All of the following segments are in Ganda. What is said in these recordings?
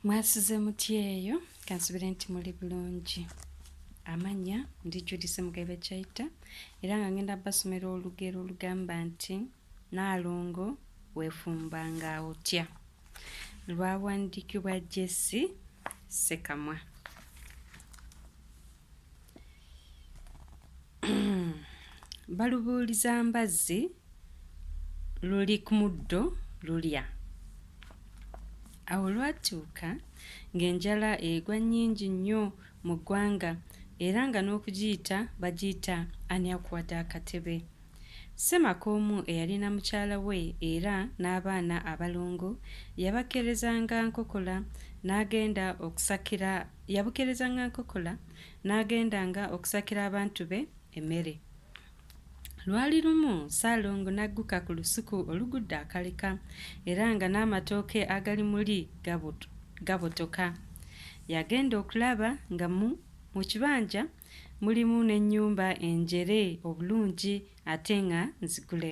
mwasuze mutya eyo kansubire nti muli bulungi amanya ndi judisi mugaibe kyaita era nga ngenda basomera olugero olugamba nti naalongo weefumba nga otya lwawandikibwa jesi sekamwa balubuuliza mbazzi luli ku muddo lulya awo lwatuuka ng'enjala egwa nnyingi nnyo mu ggwanga era nga n'okugiyita bagiyita ani akuwadde akatebe Ssemaka omu eyalina mukyala we era n'abaana abalongo yabakkerezanga nkokola n'agenda okusakira yabukkerezanga nkokola n'agendanga okusakira abantu be emmere. Lwali lumu Ssaalongo n'agguka ku lusuku olugudde akaleka era nga n'amatooke agali muli gabotoka. Yagenda okulaba nga mu kibanja Mulimu n'ennyumba enjere obulungi ate nga nzigule.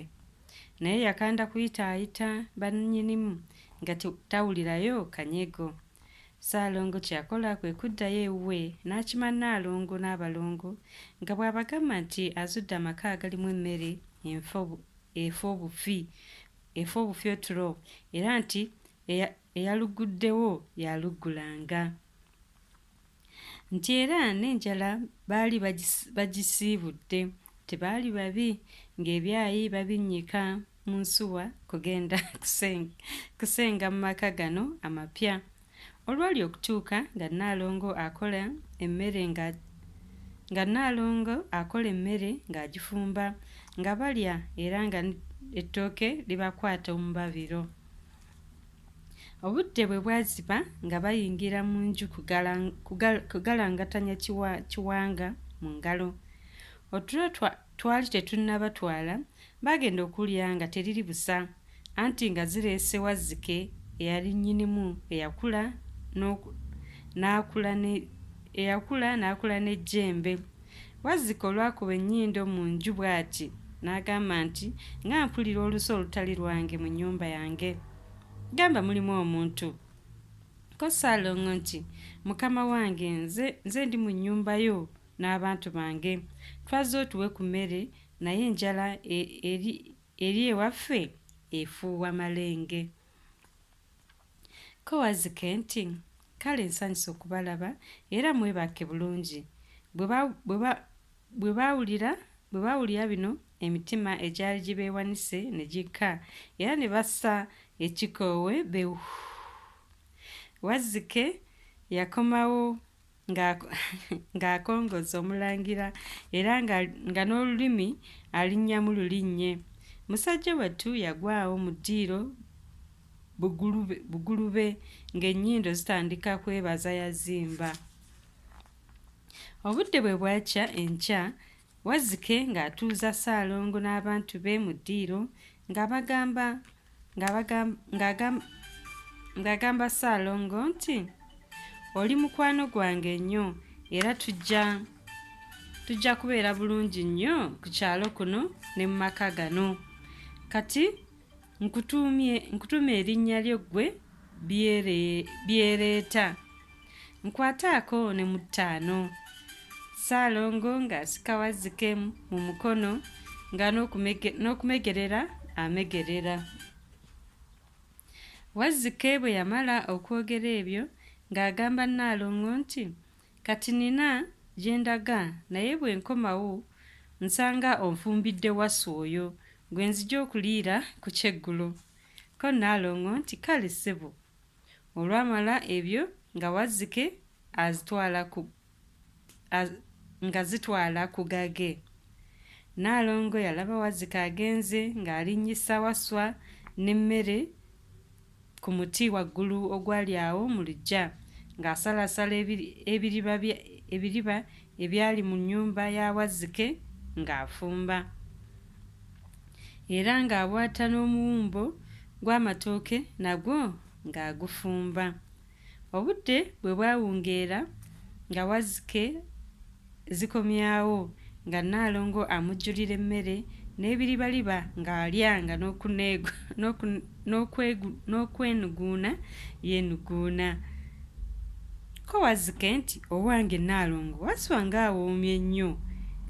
Naye yakanda kuyitaayita bannyinimu nga tawulirayo kanyego. Ssaalongo kye yakola kwe kuddayo ewuwe n'akima Nnaalongo n'abalongo nga bw'abagamba nti azudde amaka agalimu emmere enfa efa obufi efa obufi otulo era nti eyalugguddewo y'aluggulanga. nti era n'enjala baali bagisiibudde tebaali babi ng'ebyayi babinnyika mu nsuwa kugenda kusenga mu maka gano amapya olwali okutuuka nga nnaalongo akola emmere nga nga nnaalongo akola emmere ng'agifumba nga balya era nga ettooke libakwata omubabiro. Obudde bwe bwaziba nga bayingira mu nju kugalangatanya kiwanga mu ngalo. Otulo twali tetunnabatwala baagenda okulya nga teriri busa anti nga zireese Wazzike eyali nnyinimu eyakula n'akula n'ejjembe. Wazzike olwakuba ennyindo mu nju bw'ati n'agamba nti, Nga mpulira olusu olutali lwange mu nnyumba yange! Gamba mulimu omuntu. Ko Ssaalongo nti, Mukama wange nze, nze ndi mu nnyumba yo n'abantu bange. Twazze otuwe ku mmere naye enjala e, eri, eri ewaffe efuuwa malenge. Ko Wazzike nti, Kale nsanyuse okubalaba, era mwebake bulungi. Bwe ba, bwe ba, bwe baawulira, bwe baawulira bino, emitima egyali gibeewanise ne gikka, era ne bassa ekikoowe be. Wazzike yakomawo ng'akongozza omulangira era nga n'olulimi alinnyamu lulinnye. Musajja wattu yagwawo mu ddiiro bugulube ng'ennyindo zitandika kwebaza yazimba. Obudde bwe bwakya enkya Wazzike ng'atuuza Ssaalongo n'abantu be mu ddiiro ng'abagamba ng'agamba Ssaalongo nti oli mukwano gwange nnyo era tujja tujja kubeera bulungi nnyo ku kyalo kuno ne mu maka gano kati nkutuumye nkutuumye erinnya lyo ggwe byereeta nkwataako ne mu ttaano ssaalongo ng'asika wazzike mu mukono nga n'okumegerera amegerera wazzike bwe yamala okwogera ebyo ng'agamba nnaalongo nti Kati nnina gye ndaga naye bwe nkomawo nsanga onfumbidde Wasswa oyo gwe nzija okuliira ku kyeggulo. Ko Nnaalongo nti, Kale ssebo. Olwamala ebyo nga Wazzike azitwala ku az, nga zitwala ku gage. Nnaalongo yalaba Wazzike agenze ng'alinnyisa Wasswa n'emmere. ku muti waggulu ogwali awo mu luggya, ng'asalaasala ebi, ebiriba bye, ebiriba ebyali mu nnyumba ya Wazzike ng'afumba, era ng'abwata n'omuwumbo gw'amatooke nagwo ng'agufumba. Obudde bwe bwawungeera nga Wazzike zikomyawo nga Nnaalongo amujjulira emmere n'ebiribaliba ng'alya nga n'okwenuguuna yeenuguuna. Ko Wazzike nti, Owange Nnaalongo Wasswa ng'awoomye nnyo!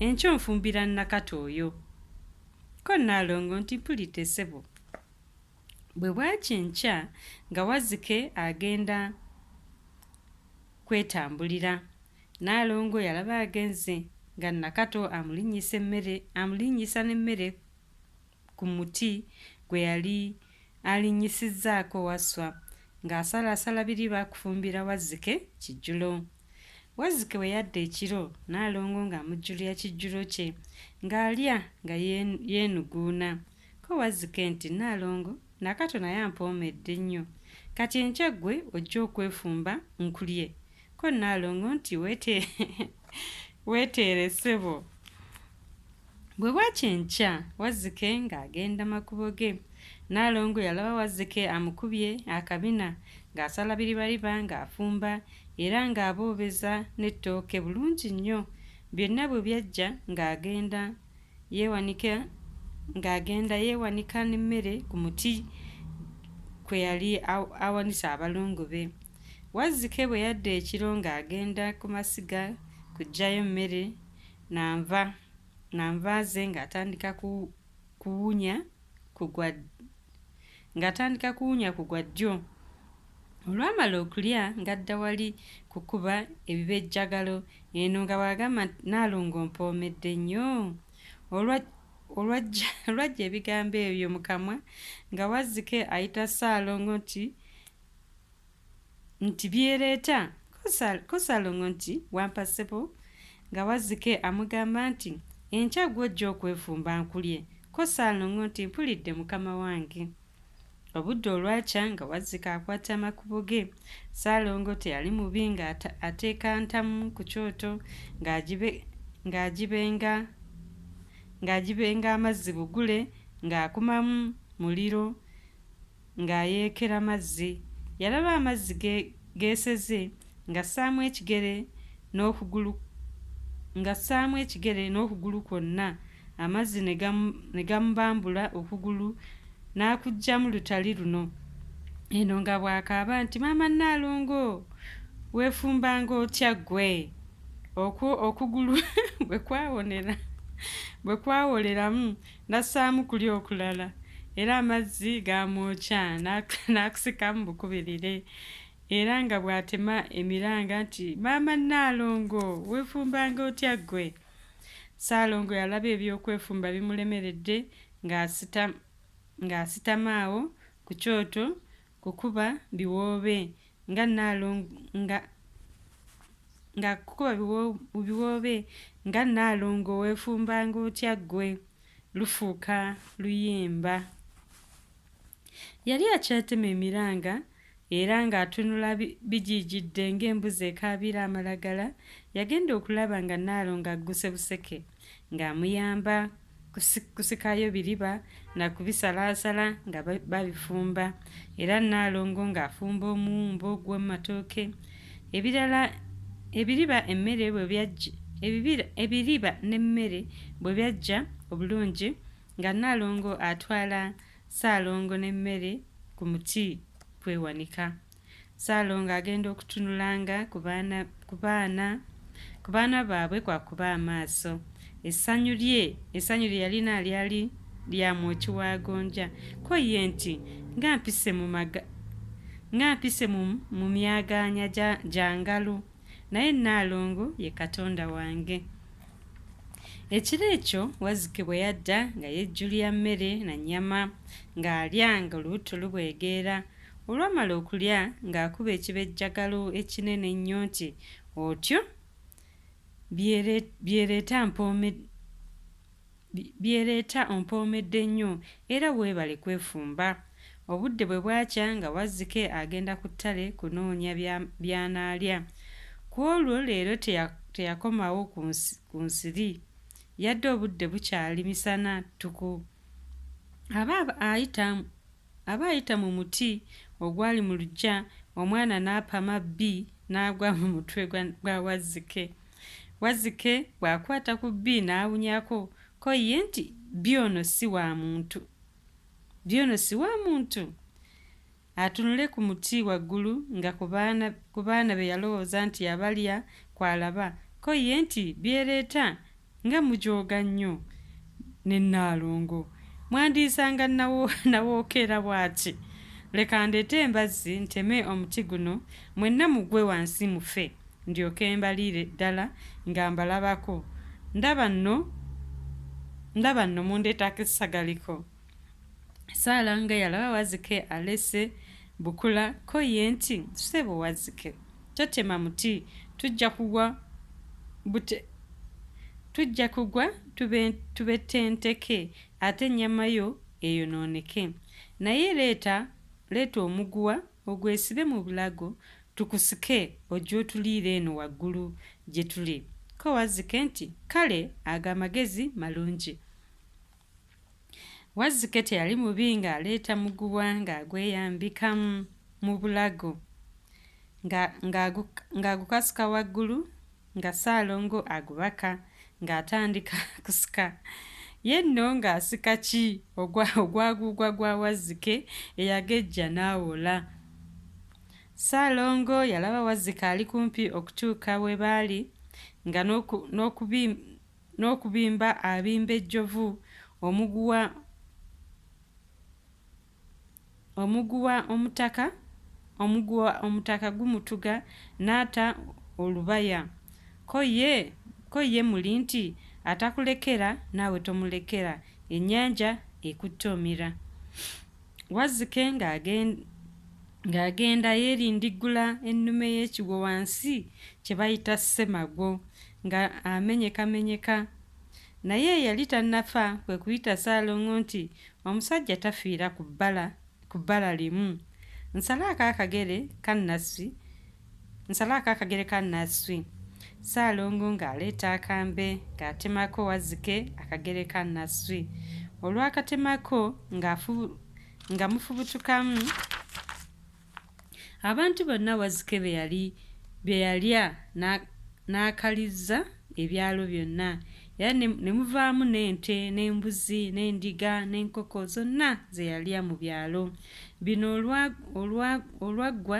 Enkya onfumbira Nakato oyo. Ko Nnaalongo nti, Mpulidde ssebo. Bwe bwakya enkya nga Wazzike agenda kwetambulira, Nnaalongo yalaba agenze nga Nakato amulinnyisa emmere amulinnyisa n'emmere ku muti gwe yali alinnyisizzaako Wasswa ng'asalaasala biri baakufumbira Wazzike kijjulo. Wazzike bwe yadda ekiro, Nnaalongo ng'amujjulira kijjulo kye ng'alya nga yeenuguuna. Ko Wazzike nti, Nnaalongo, Nakato naye ampoomedde nnyo. Kati enkya ggwe ojja okwefumba nkulye. Ko Nnaalongo nti, Weeteere ssebo. Bwe bwakya enkya, Wazzike ng'agenda makubo ge. Nnaalongo yalaba Wazzike amukubye akabina ng'asala biribariba ng'afumba era ng'aboobeza n'ettooke bulungi nnyo. Byonna bwe byajja ng'agenda Yeewanika ng'agenda yeewanika n'emmere ku muti kwe yali awanise abalongo be. Wazzike bwe yadda ekiro ng'agenda ku masiga kuggyayo mmere na nva na nva ze ng'atandika kuwunya ku gwa ng'atandika kuwunya ku gwa ddyo olwamala okulya ng'adda wali kukuba ebibejjagalo eno nga bw'agamba nti naalongo mpoomedde nnyo olwa olwajja ebigambo ebyo mu kamwa nga wazzike ayita ssaalongo nti nti byeleeta ku Ssalongo nti wampa ssebo nga Wazzike amugamba nti enkya gw'ojja okwefumba nkulye ko Ssalongo nti mpulidde mukama wange. Obudde olwakya nga Wazzike akwata amakubo ge. Ssalongo teyali mubi nga ateeka ntamu ku kyoto ng'agibenga ng'agibenga amazzi bugule ng'akumamu muliro Ng'ayeekera mazzi, yalaba amazzi ge geeseze ng'assaamu ekigere n'okugulu ng'assaamu ekigere n'okugulu kwonna, amazzi ne gamu ne gamubambula okugulu n'akuggyamu lutali luno. Eno nga bw'akaaba nti maama Nnaalongo weefumbanga otya ggwe? Okwo okugulu bwe kwawonera bwe kwawoleramu N'assaamu kuli okulala, era amazzi gaamwokya n'akusikamu bukubirire era nga bw'atema emiranga nti, Maama Nnaalongo, weefumbanga otya ggwe? Ssaalongo yalaba eby'okwefumba bimulemeredde ng'asitama awo ku kyoto kukuba biwoobe nga naalong nga nga kukuba biwoobe nga naalongo weefumbanga otya ggwe lufuuka luyimba yali akyatema emiranga era ng'atunula bigiijidde ng'embuzi ekaabira amalagala yagenda okulaba nga naalongo agguse buseke ng'amuyamba kusikayo biriba na kubisalaasala nga babifumba era Nnaalongo ng'afumba omuwumbo ogw'omu matooke ebirala ebiriba emmere bwe byajja ebiriba n'emmere bwe byajja obulungi nga Nnaalongo atwala Ssaalongo n'emmere ku muti kwewanika. Ssaalongo agenda okutunulanga ku baana ku baana ku baana baabwe kwakuba amaaso. Essanyu lye essanyu lye yalina lyali lya mwoki wa gonja. Ko ye nti, Nga mpise mu maga nga mpise mu mu myagaanya gya gya ngalo, naye Nnaalongo ye Katonda wange. Ekiro ekyo Wazzike bwe yadda nga yejjulira mmere na nnyama ng'alya ng'olubuto lubwegeera. Olwamala okulya ng'akuba ekibejjagalo ekinene ennyo nti, Otyo? Byereeta mpoomedde byereeta ompoomedde nnyo era weebale kwefumba. Obudde bwe bwakya nga Wazzike agenda ku ttale kunoonya by'anaalya. Ku olwo leero teyakomawo ku nsiri yadde obudde bukyali misana ttuku. Aba ayita Aba ayita mu muti ogwali mu luggya, omwana n'apama bbi n'agwa mu mutwe gwa gwa Wazzike. Wazzike bw'akwata ku bbi n'awunyako ko ye nti, Bbi ono si wa muntu! Bbi ono si wa muntu! Atunule ku muti waggulu nga ku baana ku baana be yalowooza nti abalya kw'alaba, ko ye nti, Byereeta Nga mujooga nnyo ne Nnaalongo! Mwandiyisanga Nawookera bw'ati! Leka ndeete embazzi nteme omuti guno, mwenna mugwe wansi mufe, ndyoke mbaliire ddala nga mbalabako. Ndaba nno, ndaba nno mundeetako essagaliko. Saala nga yalaba Wazike alese bukula ko ye nti, Ssebo Wazike, totema muti, tujja kugwa bute tujja kugwa tubetenteke ate ennyama yo eyonooneke. Naye leeta leeta omuguwa ogwesibe mu bulago tukusike ojje otuliire eno waggulu gye tuli. Ko Wazike nti, Kale ago amagezi malungi. Wazzike teyali mubi ng'aleeta muguwa ng'agweyambika mu bulago nga ng'agu ng'agukasuka waggulu nga Ssaalongo agubaka ng'atandika kusika. Ye nno ng'asika ki ogwa ogwaguugwa gwa Wazzike eyagejja n'awola. Ssaalongo yalaba Wazzike ali kumpi okutuuka we baali nga n'oku n'okubi N'okubimba abimba ejjovu, omuguwa omuguwa omutaka omuguwa omutaka gumutuga n'ata olubaya. Ko ye ko ye muli nti atakulekera naawe tomulekera, ennyanja ekutte omira. Wazzike ng'agenda yeerindiggula ennume y'ekigwo wansi kye bayita Ssemagwo nga amenyekamenyeka. Naye eyali tannafa kwe kuyita Ssaalongo nti, Omusajja tafiira ku bbala limu. Nsalaako akagere ka Nassi Nsalaako akagere ka Nasswi. Ssaalongo ng'aleeta akambe ng'atemako Wazzike akagere ka Nasswi. Olwakatemako nga mufubutukamu abantu bonna Wazzike be yalya n'akalizza ebyalo byonna era ne muvaamu n'ente n'embuzi n'endiga n'enkoko zonna ze yalya mu byalo bino olwaggwa